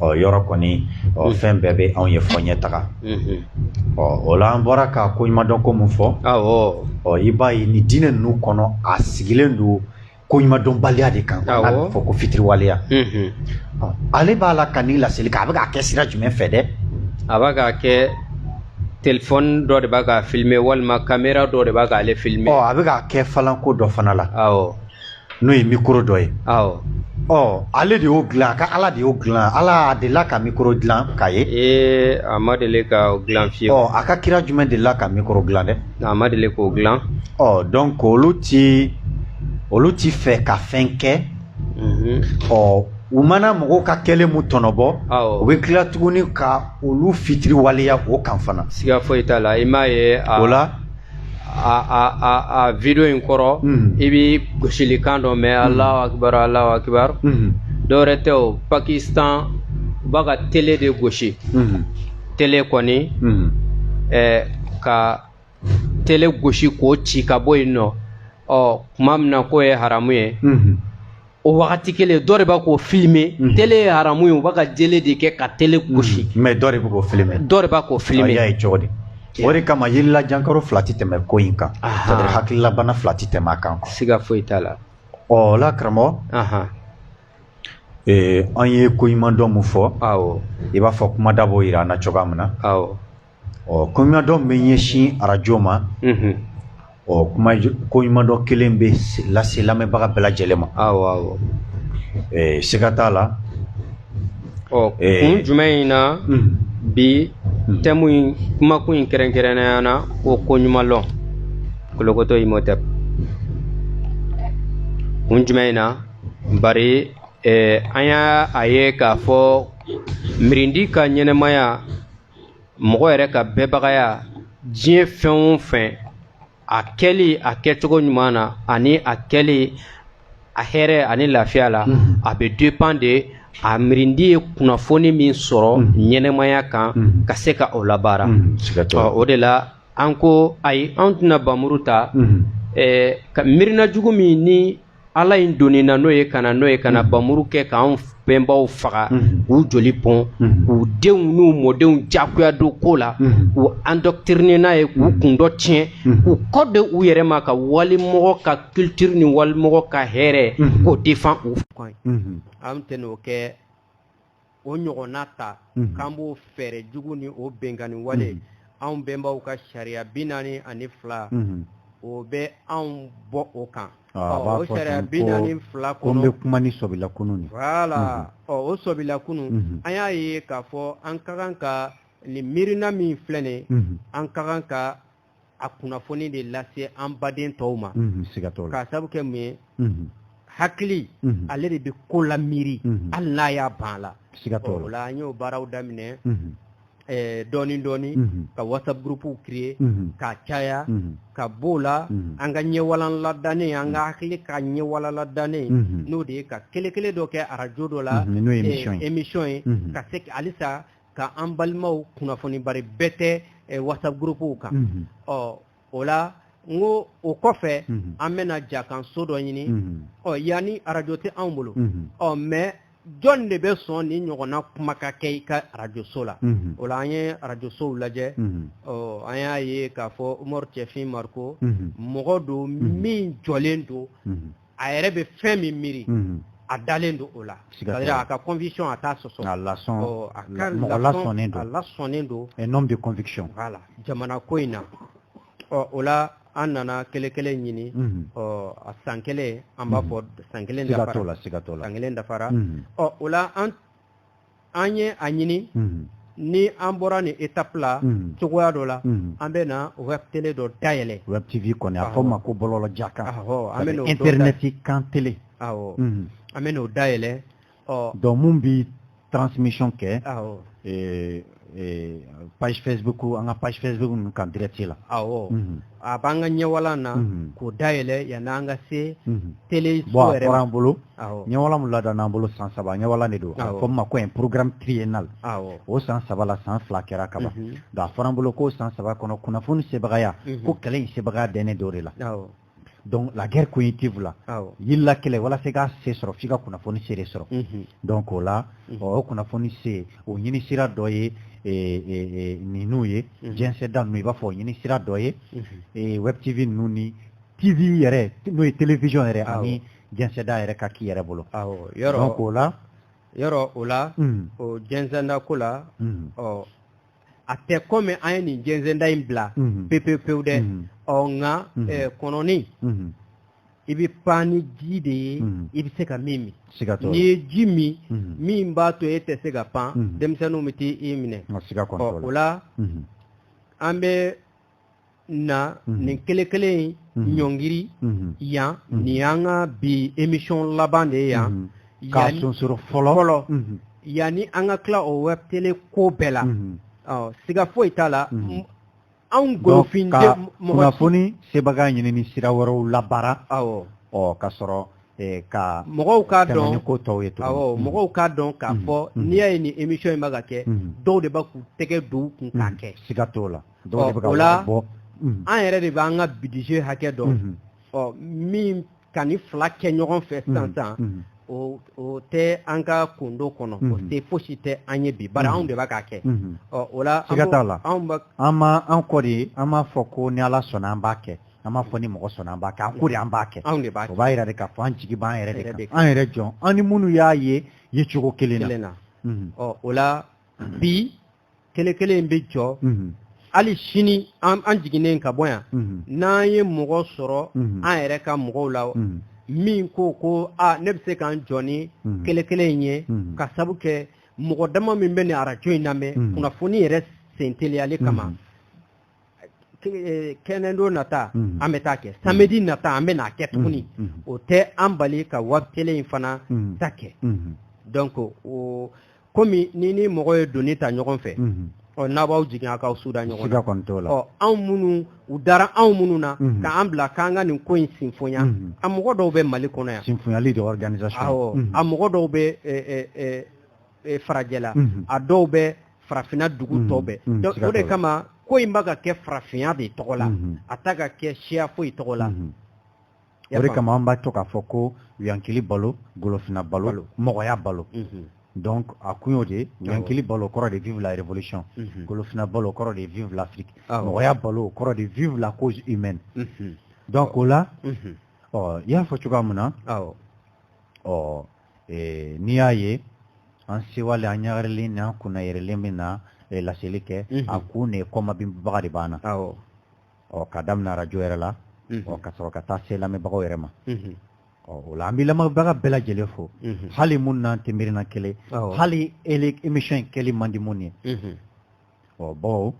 ɔ yɔrɔ kɔni ɔ mm. fɛn bɛɛ bɛ anw ye fo ɲɛtaga mm-hmm. ɔ o la an bɔra ka koɲumandɔn ko min fɔ ɔ i b'a ye nin diinɛ ninnu kɔnɔ a sigilen don koɲumandɔnbaliya de kan n'a bɛ fɔ ko fitiriwaleya mm-hmm. ale b'a la ka nin laseli kɛ a bɛ k'a kɛ sira jumɛn fɛ dɛ a b'a k'a kɛ telefɔni dɔ de b'a ka filime walima kamera dɔ de b'a k'ale filime ɔ a bɛ k'a kɛ falanko dɔ fana la awɔ n'o ye mikoro dɔ ye ɔ ale de y'o dilan a ka ala de y'o dilan ala delila ka mikoro dilan k'a ye ee a ma deli k'o dilan fewu ɔ a ka kira jumɛn delila ka mikoro dilan dɛ a ma deli k'o dilan ɔ donc olu tɛ olu tɛ fɛ ka fɛn kɛ mhm. ɔ u mana mɔgɔw ka kɛlen mu tɔnɔbɔ u bɛ tila tuguni ka olu fitiriwaleya o kan fana siga foyi t'a la i m'a ye o la a video in kɔrɔ mm. i bɛ gosilikan dɔ mɛn mm. Allahu Akbar Allahu Akbar mm. dɔwɛrɛ tɛ o Pakistan u b'a ka tele de gosi tele kɔni eh, ka tele gosi k'o ci ka bɔ yen nɔ ɔ kuma min na k'o ye haramu ye o wagati kelen dɔ de b'a k'o filime mhm. tele ye haramu ye u b'a ka jele de kɛ ka tele mhm. gosi mais dɔ de bɛ k'o filime dɔ de b'a k'o filime y'a ye cogo di o de kama yirila jankaro fila tɛ tɛmɛ ko in kan c'est-à-dire hakililabana fila tɛ tɛmɛ a kan siga foyi t'a la ɔ la karamɔgɔ an ye koɲumandɔn mun fɔ awɔ i b'a fɔ kumada b'o yira an na cogoya min na awɔ ɔ koɲumandɔn bɛ ɲɛsin arajo ma ɔ kuma koɲumandɔn kelen bɛ lase lamɛnbaga bɛɛ lajɛlen ma siga t'a la ɔ kun jumɛn in na bi thème in kumakun in kɛrɛnkɛrɛnnenya na ko koɲumanlɔn kolokɔtɔ Imhotep kun jumɛn in na bari an y'a ye k'a fɔ miirindi ka ɲɛnɛmaya mɔgɔ yɛrɛ ka bɛɛbagaya diɲɛ fɛn o fɛn a kɛli a kɛcogo ɲuman na ani a kɛli a hɛrɛ ani lafiya la mm-hmm. a bɛ dépend de a miirindi ye kunnafoni min sɔrɔ mm-hmm. ɲɛnɛmaya kan mm-hmm. ka se ka o labaara o de la an ko ayi an tɛna npanmuru ta eh, ka miirina jugu min ni Ala in donna n'o ye ka n'o ye ka npanmuru kɛ k'an bɛnbaw faga k'u joli bɔn k'u denw n'u mɔdenw jagoya don ko la k'u endoctriner n'a ye k'u kundɔ tiɲɛ k'u kɔ di u yɛrɛ ma ka walimɔgɔ ka culture ni walimɔgɔ ka hɛrɛ k'o défend u fɔ an tɛn'o kɛ o ɲɔgɔnna ta k'an b'o fɛɛrɛ jugu ni o binkanni wale anw bɛnbaw ka sariya bi naani ani fila o bɛ anw bɔ o kan o sariya bi naani fila ko bɛ kuma ni sɔbila kunun wala o sɔbila kunun an y'a ye k'a fɔ an ka kan ka nin miirina min filɛ nin an ka kan ka a kunnafoni de lase an baden tɔw ma k'a sabu kɛ mun ye hakili ale de bɛ ko la miiri hali n'a y'a ban la o la an y'o baaraw daminɛ Eh, dɔɔnin dɔɔnin mhm. ka whatsapp groupew créer mhm. k'a caya mhm. ka b'o la an ka ɲɛwalan ladannen an ka hakili ka ɲɛwalan ladannen n'o de ye ka kele kele dɔ kɛ arajo dɔ la eh, émission ye ka se halisa ka an balimaw kunnafoni bari bɛɛ tɛ eh, whatsapp groupe kan mm -hmm. ɔ o la n ko o kɔfɛ mm -hmm. an bɛna jakan so dɔ ɲini mm -hmm. ɔ yanni arajo tɛ anw bolo mm -hmm. ɔ mais jɔn de bɛ sɔn nin ɲɔgɔnna kuma ka kɛ i ka arajoso la mhm. o la an ye arajosow lajɛ mhm. an y'a ye k'a fɔ umaru cɛfin mariko mhm. mɔgɔ don min jɔlen don a yɛrɛ bɛ fɛn min miiri a dalen don o la a ka conviction a t'a sɔsɔ a lasɔnnen don un homme de conviction voilà jamana ko in na ɔ o la an nana kɛlɛ kelen ɲini ɔ a san kelen an b'a fɔ san kelen la san kelen dafara ɔ o la an an ye a ɲini ni an bɔra nin étape la cogoya dɔ la an bɛna web tele dɔ dayɛlɛ web tv kɔni a fɔ ma ko bɔlɔlɔ jakan internet kan tele an bɛn'o dayɛlɛ ɔ donc min bɛ transmission kɛ Eh, page facebook an ka page facebook ninnu kan direct la awɔ mhm. a b'an ka ɲɛwalan na mhm. k'o dayɛlɛ yanni an ka se mhm. tele so yɛrɛ ma an bolo ɲɛwalan min ladana an bolo san saba ɲɛwalan de don a fɔ min ma ko un programme triennal o san saba la san fila kɛra kaban donc a fɔra an bolo k'o san saba kɔnɔ kunnafoni sebagaya ko kɛlɛ in sebagaya dɛnnen don o de la donc la guerre cognitive la yirila kɛlɛ walasa ka se sɔrɔ f'i ka kunnafoni se de sɔrɔ mhm. donc o la mhm. o kunnafoni se o ɲini sira dɔ ye e, e, e, ninnu ye mhm. jɛnsɛda ninnu i b'a fɔ o ɲini sira dɔ ye web tv ninnu ni tv yɛrɛ n'o ye télévision yɛrɛ ani jɛnsɛda yɛrɛ ka k'i yɛrɛ bolo donc o la yɔrɔ o la hmm. o jɛnsɛda ko la hmm. ɔ a tɛ kɔmi an ye nin jɛnsɛnda in bila pepewu pewu dɛ ɔ nka kɔnɔni i bɛ pan ni ji de ye i bɛ se ka min min n'i ye ji min min b'a to e tɛ se ka pan denmisɛnninw bɛ t'i minɛ o la an bɛ na mhm. nin kelen kelen in mhm. ɲɔngiri mhm. yan nin y'an ka bi émission laban de ye yan k'a sonsoro fɔlɔ fɔlɔ yanni an ka tila o web tele ko bɛɛ la ɔ siga foyi t'a la anw golofin de mɔgɔ kunnafoni sebaga ɲinini sira wɛrɛw labaara awɔ ɔ ka sɔrɔ eh, ka mɔgɔw k'a dɔn ko tɔw ye tuguni awɔ mɔgɔw k'a dɔn k'a fɔ n'i y'a ye nin émission in bɛ ka kɛ dɔw de bɛ k'u tɛgɛ don u kun k'a kɛ siga t'o la an yɛrɛ de b'an ka budget hakɛ dɔn ɔ min ka ni fila kɛ ɲɔgɔn fɛ san san o tɛ an ka kundo kɔnɔ o tɛ fosi tɛ an ye bi bari anw de b'a k'a kɛ ɔ o la la an kɔ de an m'a fɔ ko ni ala sɔnna an b'a kɛ an m'a fɔ ni mɔgɔ sɔnna an b'a kɛ an ko de an b'a kɛ anw de b'a kɛ o b'a yira de k'a fɔ an jigi b'an yɛrɛ de kan an yɛrɛ jɔn an ni minnu y'a ye ye cogo kelen na ɔ o la bi kelekele in bɛ jɔ hali sini an jiginnen ka bɔ yan n'an ye mɔgɔ sɔrɔ an yɛrɛ ka mɔgɔw la min ko ko aa ne bɛ se ka n jɔ ni kelekele in ye ka sabu kɛ mɔgɔ dama min bɛ ni arajo in lamɛn kunnafoni yɛrɛ sen teliyali kama kɛnɛdo nata mhm. an bɛ t'a kɛ samɛdi mhm. nata an bɛ n'a kɛ tuguni mhm. o tɛ an bali ka web télé in fana ta kɛ donc o komi ni ni mɔgɔ ye doni ta ɲɔgɔn fɛ ɔ n'a b'aw jigin a k'aw suda ɲɔgɔn la ɔ anw minnu u dara anw minnu na k'an bila k'an ka nin ko in sinfonya a mɔgɔ dɔw bɛ mali kɔnɔ yan sinfonyali de organisation a mɔgɔ dɔw bɛ e, farajɛla mhm. a dɔw bɛ farafinna dugu mhm. tɔw bɛɛ mhm. o de kama ko in b'a ka kɛ farafinya de tɔgɔ la a t'a ka kɛ siya foyi tɔgɔ la o de kama an b'a to k'a fɔ ko yankili balo golofina balo mɔgɔya balo donc a kun y'o de yankili balo kɔrɔ de vive la révolution golofina balo kɔrɔ de vive l'afrique mɔgɔya balo kɔrɔ de vive la cause humaine donc o la ɔ i y'a fɔ cogoya min na ɔ ɛɛ n'i y'a ye an sewalen an ɲagarilen ni an kunna yɛrɛlen bɛ na eh, laseli kɛ mhm. a kun de kɔmabinbaga de b'an na ɔ ka daminɛ arajo yɛrɛ la mhm. ɔ ka sɔrɔ ka taa se lamɛnbagaw yɛrɛ ma mhm. ɔ o la an bɛ lamɛnbaga bɛɛ lajɛlen fo hali minnu n'an tɛ miirina kelen hali émission in kɛli man di minnu ye ɔ bawo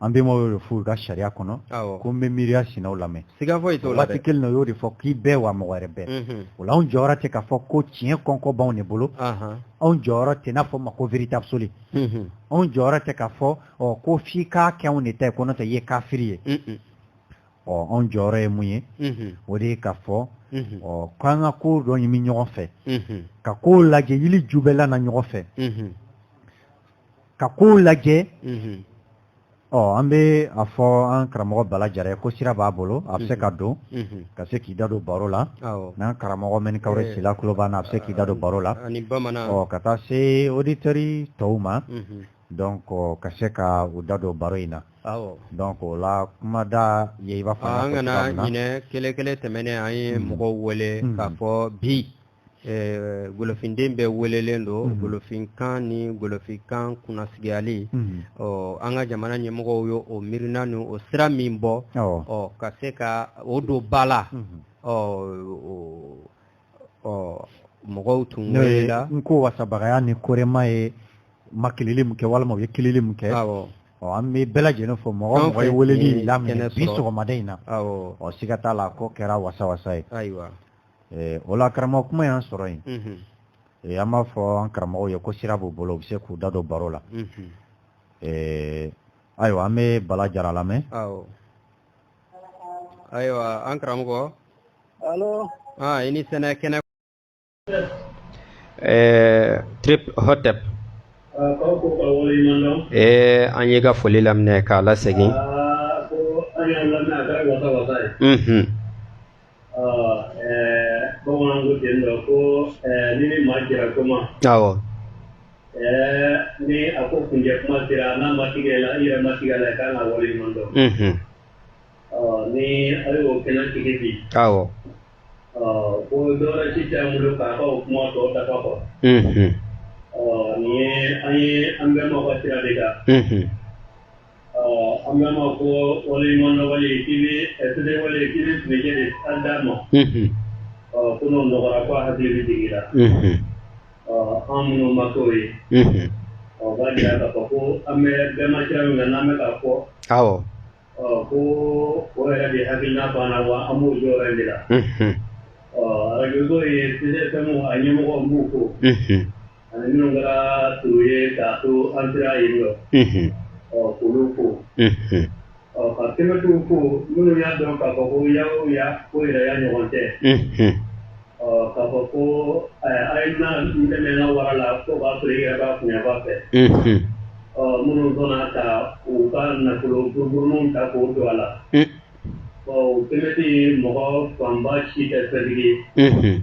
an bɛnbaw y'o de f'u ka sariya kɔnɔ ko n bɛ miiriya sinaw lamɛn siga foyi t'o la waati kelen na y'o de fɔ k'i bɛɛ wa mɔgɔ wɛrɛ bɛɛ o anw jɔyɔrɔ tɛ k'a fɔ ko tiɲɛ kɔnkɔ b'anw de bolo anw jɔyɔrɔ tɛ n'a fɔ ma ko vérité absolue anw jɔyɔrɔ tɛ k'a fɔ ko f'i k'a kɛ anw de ta ye ko n'o tɛ i ye kafiri ye ɔ anw jɔyɔrɔ ye mun ye o de ye k'a fɔ ɔ k'an ka ko dɔ ɲimi ɲɔgɔn fɛ ka ko lajɛ yiri ju bɛɛla na ɲɔgɔn fɛ ka kow lajɛ ɔ an bɛ a fɔ an karamɔgɔ bala jara ye ko sira b'a bolo a bɛ se ka don ka se k'i da don baro la n'an karamɔgɔ mɛnikawure sila kulo b'an na a bɛ se k'i da don baro la ka taa se auditeurs tɔw ma donc ka se ka u da don baro in na donc o la kumada ye i b'a fɔ an kana ɲinɛ kelekele tɛmɛnen an ye mɔgɔw wele k'a fɔ bi golofinden bɛɛ welelen don golofinkan ni golofinkan kunnasigiyali ɔ an ka jamana ɲɛmɔgɔw ye o miirina ni o sira min bɔ ɔ ka se ka o don ba la ɔ ɔ mɔgɔw tun welela n ko wasabagaya ni korema ye makilili min kɛ walima u ye kilili min kɛ ɔ an bɛ bɛɛ lajɛlen fo mɔgɔ mɔgɔ ye weleli laminɛ bi sɔgɔmada in na ɔ siga t'a la k'o kɛra wasa wasa ye eh, o la karamɔgɔ kuma y'an sɔrɔ yen mhm. eh, an b'a fɔ an karamɔgɔw ye ko sira b'u bolo u bɛ se k'u da don baro la mhm. eh, ayiwa an bɛ bala jara lamɛn ayiwa an karamɔgɔ ah, i ni sɛnɛ kɛnɛ trip hotep an y'i ka foli laminɛ k'a lasegin ah, bamananw ko ten dɔ ko ni ni maa jɛra ko ma awɔ ni a ko kuncɛ kuma sera n'a ma tigɛ la i yɛrɛ ma tigɛ la i kan ka wale ɲuman dɔn ni a y'o kɛnɛ tigi bi awɔ ko dɔwɛrɛ si tɛ an bolo k'a ka o kuma tɔ dafa kɔ nin ye an ye an bɛnbaw ka sira de kan an bɛnbaw ko waleɲumandɔn wale k'i bɛ sɛbɛ wale k'i bɛ tile de an d'a ma ko n'o nɔgɔyara ko a hakili bɛ jigin la an minnu ma k'o ye ɔ b'a jira k'a fɔ ko an bɛ bɛnba sira min kan n'an bɛ k'a fɔ ɔ ko o yɛrɛ de hakilina banna wa an b'o jɔyɔrɔ in de la ɔ arajo so ye PCFM a ɲɛmɔgɔw n b'u fo Ani minnu kɛra to ye k'a to an sera yen nɔ ɔ k'olu fo ɔ ka kɛmɛtiw fo minnu y'a dɔn k'a fɔ ko ya o ya ko yɛrɛya ɲɔgɔn tɛ ɔ k'a fɔ ko a ye na n dɛmɛ n ka wara la k'o b'a sɔrɔ i yɛrɛ b'a kunba fɛ ɔ minnu sɔnna ka u ka nafolo burun ta k'o don a la ɔ kɛmɛti mɔgɔ fanba si tɛ fɛntigi ye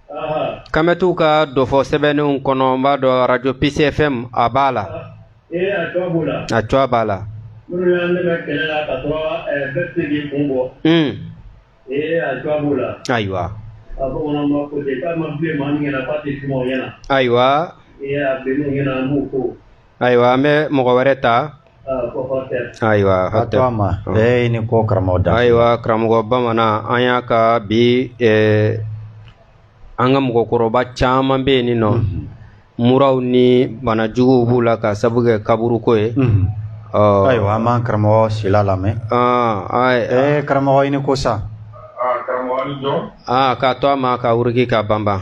Kamɛtiw ka dɔfɔ sɛbɛnnenw kɔnɔ n b'a dɔn arajo PCFM a b'a la a cogoya b'a la ayiwa ayiwa ayiwa an bɛ mɔgɔ wɛrɛ ta ayiwa hatɛ ma ee ni ko karamɔgɔ da ayiwa karamɔgɔ bamanan an y'a ka bi an ka mɔgɔkɔrɔba caman bɛ yen nin nɔ mhm. muraw ni banajuguw b'u la ka sabu kɛ kaburuko ye mhm. ayiwa an b'an karamɔgɔ sila lamɛn ee karamɔgɔ i ni ko sa aa k'a to a ma ka wuruki ka banban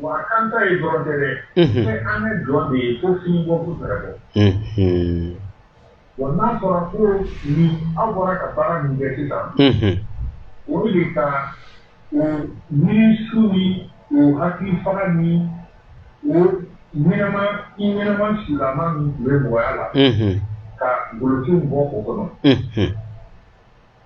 Wa a kan ta ye dɔrɔn tɛ dɛ. Unhun. Fɛn an bɛ dɔn de ye ko fini bɔ ko fɛɛrɛ bɔ. Unhun. Wa n'a fɔra ko ni aw bɔra ka baara min kɛ sisan. Unhun. O bɛ de ka o miirisu ni o hakili faga ni o ɲɛnama i ɲɛnama sulama min tun bɛ mɔgɔya la. Unhun. Ka golofinw bɔ o kɔnɔ. Unhun.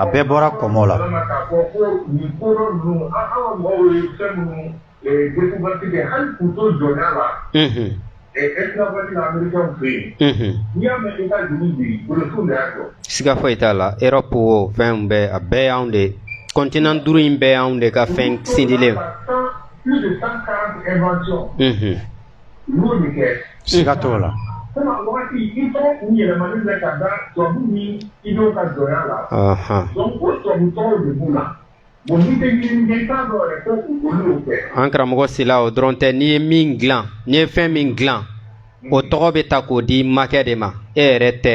A bɛɛ bɔra kɔmɔ la siga foyi t'a la Europe o fɛn bɛɛ a bɛɛ y'anw de continent duuru in bɛɛ y'anw de ka fɛn sindilen siga t'o la an karamɔgɔ sila o dɔrɔn tɛ n'i ye min dilan n'i ye fɛn min dilan o tɔgɔ bɛ ta k'o di makɛ de ma e yɛrɛ tɛ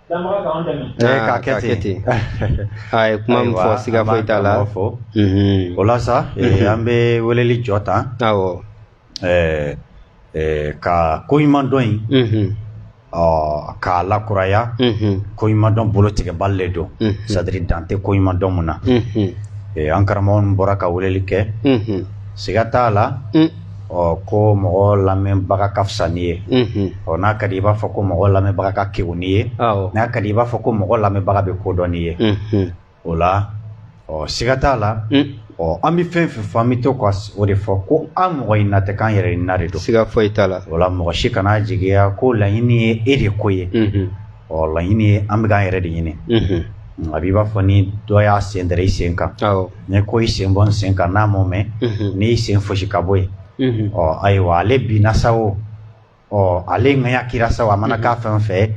Ka kɛ ten a ye kuma min fɔ siga foyi t'a la ɔ o la sa an bɛ weleli jɔ tan ka ko ɲuman dɔn in ɔ k'a lakuraya ko ɲuman dɔn bolo tigɛbali le don sadiri dante ko ɲuman dɔn mun na an karamɔgɔ bɔra ka weleli kɛ siga t'a la ɔ ko mɔgɔ lamɛnbaga ka fisa n'i ye ɔ n'a ka di i b'a fɔ ko mɔgɔ lamɛnbaga ka kegu n'i ye n'a ka di i b'a fɔ ko mɔgɔ lamɛnbaga bɛ ko dɔn n'i ye o la ɔ siga t'a la ɔ an bɛ fɛn fɛn fɔ an bɛ to ka o de fɔ ko an mɔgɔ ɲinina tɛ k'an yɛrɛ ɲinina de don siga foyi t'a la o la mɔgɔ si kana jigiya ko laɲini ye e de ko ye ɔ laɲini ye an bɛka an yɛrɛ de ɲini a b'i b'a fɔ ni dɔ y'a sen dɛrɛ i sen kan ne ko i sen bɔ n sen kan n'a m'o mɛn n'i y'i sen fosi ka bɔ yen ɔ ayiwa ale binna sa o ɔ ale ŋaya kira sa a mana k'a fɛn fɛ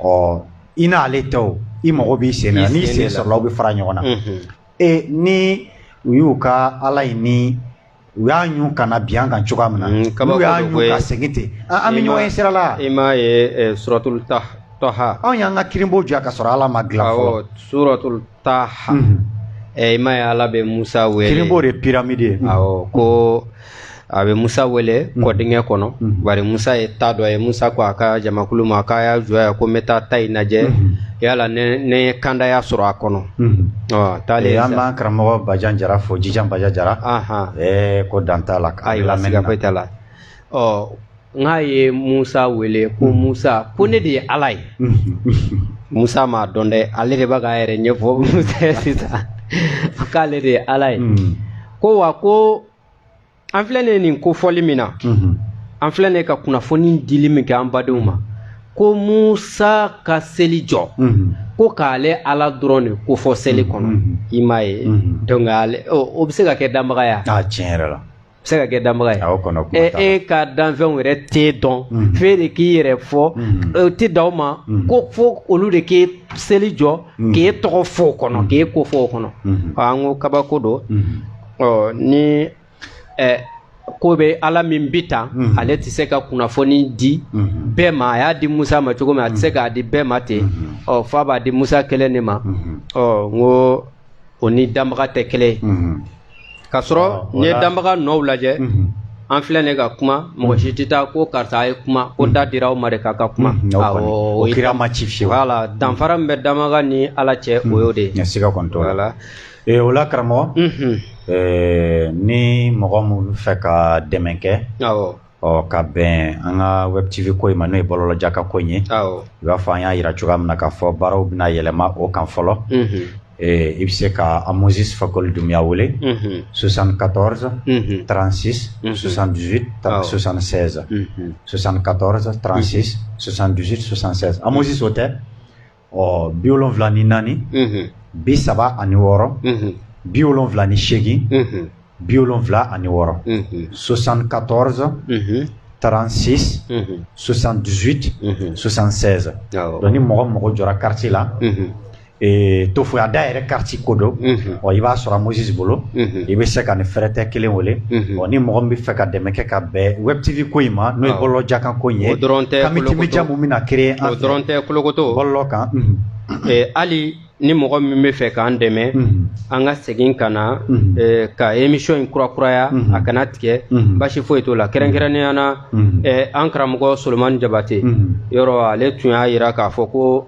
ɔ i n'ale tɛ o i mago b'i sen na n'i sen sɔrɔla aw bɛ fara ɲɔgɔn na ee ni u y'u ka ala ye ni u y'a ɲun ka na bin an kan cogoya min na mm, n'u y'a ɲun ka segin ten an bɛ ɲɔgɔn ye sira la i m'a ye suratul taha anw y'an ka kirinbo jɔ ka sɔrɔ ala ma dilan fɔlɔ suratul taha mhm. i m'a ye ala bɛ musa wele kirinbo de ye pyramide ye awɔ ko a bɛ musa wele mhm. kɔdingɛ kɔnɔ mhm. bari musa ye ta dɔ ye musa ko a ka jamakulu ma k'a y'a jɔ yan ko n bɛ taa ta in lajɛ yala ne ye kandaya sɔrɔ a kɔnɔ Taale an b'an karamɔgɔ bajan jara fo jijan bajan jara ko dan t'a la siga foyi t'a la ɔ n k'a ye musa wele ko musa ko ne de ye ala ye musa m'a dɔn dɛ ale de bɛ k'a yɛrɛ ɲɛfɔ musa ye sisan k'ale de ye ala ye ko wa ko an filɛ ne nin kofɔli min na an filɛ ne ka kunnafoni dili min kɛ an badenw ma ko musa ka seli jɔ ko k'ale ala dɔrɔn de ko fɔ seli kɔnɔ i m'a ye donc o bɛ se ka kɛ danbaga ye tiɲɛ yɛrɛ la se ka kɛ danbaga ye e, e ka danfɛnw yɛrɛ t'e dɔn mhm. f'e de k'i yɛrɛ fɔ mhm. e, tɛ dan o ma mhm. ko fo olu de ka seli jɔ k'e tɔgɔ fɔ o kɔnɔ k'e ko fɔ o kɔnɔ an ko kabako don ɔ ni ɛ ko bɛ ala min bi tan mhm. ale tɛ se ka kunnafoni di mhm. bɛɛ ma a y'a di musa ma cogo min a tɛ se k'a di bɛɛ ma ten mhm. ɔ f'a b'a di musa kelen de ma ɔ n ko o ni danbaga tɛ kelen ye ka sɔrɔ n'i ye danbaga nɔw lajɛ an filɛ ne ka kuma mɔgɔ si tɛ taa ko karisa ye kuma ko da dira aw ma de k'a ka kuma o kira ma ci fiyewu voilà danfara min bɛ danbaga ni ala cɛ o y'o de ye Ee o la karamɔgɔ ni mɔgɔ minnu fɛ ka dɛmɛ kɛ ɔ ka bɛn an ka wɛrɛtibi ko in ma n'o ye balolaja ka ko ye u b'a fɔ an y'a jira cogoya min na k'a fɔ baaraw bɛna yɛlɛma o kan fɔlɔ i bɛ se ka an mɔnsikɔli dunya wele susan ka tɔɔrɔsa transi susan dusu susansansan susan ka tɔɔrɔsa transi susan dususansɛ an mɔnsiso tɛ ɔ bi wolonwula ni naani bi saba ani wɔɔrɔ bi wolonwula ni seegin bi wolonwula ani wɔɔrɔ soixante-quatorze trente-six soixante-dix-huit soixante-seize donc ni mɔgɔ mɔgɔ jɔra kariti la tofoya da yɛrɛ kariti ko don ɔ i b'a sɔrɔ Amosis bolo i bɛ se ka nin fɛrɛtɛ kelen wele ɔ ni mɔgɔ min bɛ fɛ ka dɛmɛ kɛ ka bɛn web TV ko in ma n'o ye bɔlɔlɔjakan ko in ye community media min bɛna créer an fɛ o dɔrɔn tɛ kolokoto bɔlɔlɔ kan hali ni mɔgɔ min bɛ fɛ k'an dɛmɛ an ka segin ka na ka émission in kurakuraya a kana tigɛ basi foyi t'o la kɛrɛnkɛrɛnnenya na an karamɔgɔ Solomani Jabate yɔrɔ ale tun y'a jira k'a fɔ ko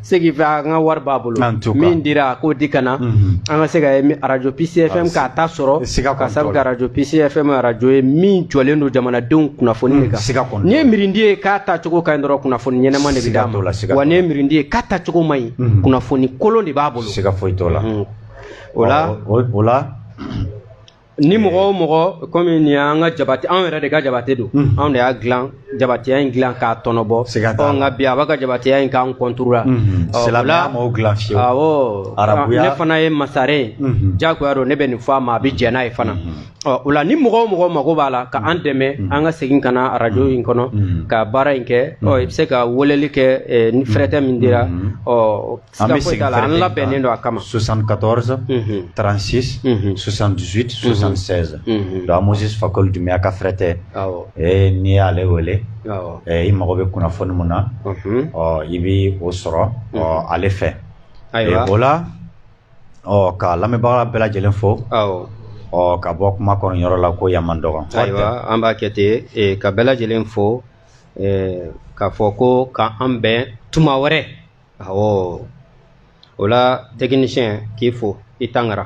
Ce qui fait an ka wari b'a bolo min dira k'o di ka na an ka se ka arajo Peace FM k'a ta sɔrɔ se ka sabu k'arajo Peace FM arajo ye min jɔlen don jamanadenw kunnafoni de kan n'i ye miiridi ye k'a tacogo ka ɲi dɔrɔn kunnafoni ɲɛnama de bɛ d'a ma wa n'i ye miiridi ye k'a tacogo man ɲi kunnafoni kolon de b'a bolo siga foyi t'o la o la Ni mɔgɔ o mɔgɔ kɔmi nin y'an ka jabate anw yɛrɛ de ka jabate don anw de y'a dilan jabateya in dilan k'a tɔnɔbɔ nka bi a b'a ka jabateya in k'an contre la ne fana ye masaren ye jagoya don ne bɛ nin fɔ a ma a bɛ jɛn n'a ye fana ɔ o la ni mɔgɔ o mɔgɔ mako b'a la k'an dɛmɛ an ka segin ka na arajo in kɔnɔ ka baara in kɛ i bɛ se ka weleli kɛ ni fɛrɛtɛ min dira ɔ An bɛ segin fɛrɛ kelen kan, an labɛnnen don a kama 74 36 78 76 donc Moise Fakoli Dunbuya ka fɛrɛtɛ, awɔ, ee n'i y'ale wele, awɔ, i mago bɛ kunnafoni min na, unhun, ɔ i bɛ o sɔrɔ ale fɛ, ayiwa, o la ɔ ka lamɛnbaga bɛɛ lajɛlen fo, awɔ, ɔ ka bɔ kuma kɔnɔyɔrɔ la ko yan man dɔgɔ, ayiwa an b'a kɛ ten ka bɛɛ lajɛlen fo, ɛɛ k'a fɔ ko k'an bɛn tuma wɛrɛ awɔ o la tɛkinisiyɛn k'i fo i Tangara